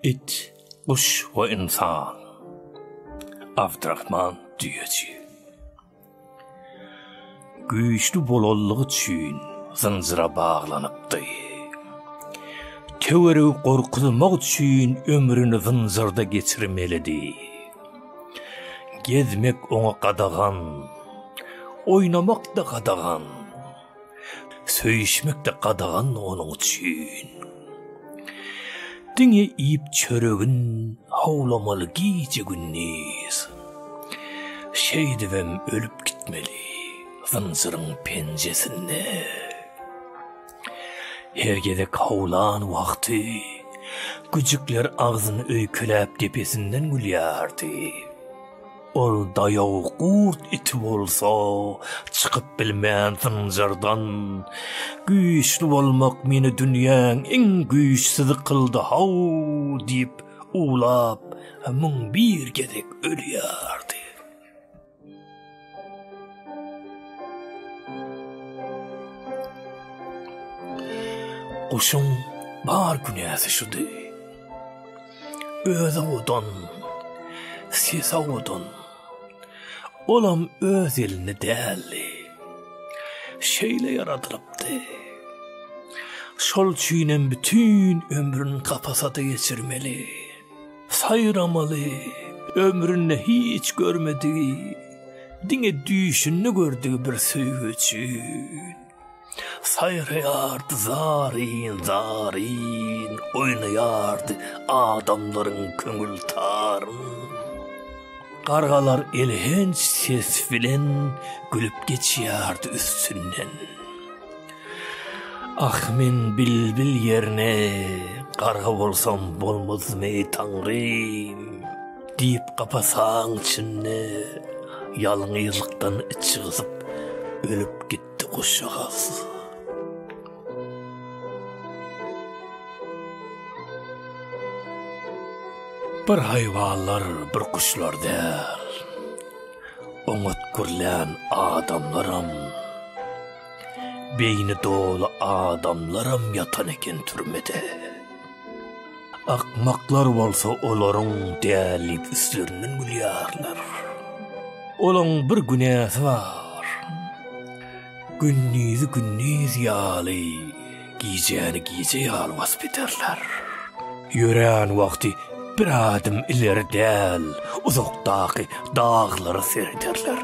It, guş we insan. Abdrahman Düýeçi. Güýçli bolanlygy üçin zynjyra baglanypdy. Töweregi gorkuzmak üçin ömrüni zynjyrda geçirmelidi. Gezmek oňa gadagan, oýnamak-da gadagan, söýüşmek-de gadagan onuň üçin. Diňe iýip çöregin howlamaly gije-gündiz. Şeýdibem ölüp gitmeli zynjyryň penjesinde. Her gezek howlan wagty güjükler agzyny öýkeläp depesinden gülýärdi. Ol daýaw gurt iti bolsa çykyp bilmän zynjyrdan, Güýçli bolmak meni dünýäň iň güýçsüzi kyldy-haw! diýip uwlap, müň bir gezek ölýärdi. Guşuň bar günäsi şudy. Özi odan, sesi odan. Olam öz elini däldi. Şeýle ýaradylypdy. Şol üçin hem bütin ömrüni kapasada geçirmeli. Saýramaly, ömründe hiç görmedigi, diňe düýşünde gördügi bir söýgi üçin. Saýraýardy zaryn, zaryn, oýnaýardy adamlaryň köňül taryn. Gargalar elhenç ses bilen gülüp geçýärdi üstünden. Ah men bilbil ýerine garga bolsam bolmazmy Taňrym? diýip kapasaň içinde ýalňyzlykdan içi gysyp ölüp gitdi guşjagaz. Bir haýwanlar, bir guşlar däl, oňat gürlän adamlaram. Beýni doly adamlaram ýatan eken türmede. Akmaklar bolsa olaryň däl diýip üstlerinden gülýärler. Olaň bir günäsi bar. Gündizi gündiz ýaly. Gijäni gije ýaly basp ederler. Ýörän wagty bir adım ileri däl, uzakdaky daglara serederler.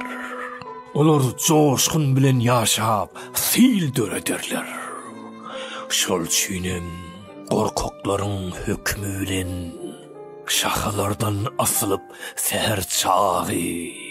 Olar joşgun bilen ýaşap, sil dörederler. Şol üçin hem gorkaklaryň hökümi bilen şahalardan asylyp säher çagy.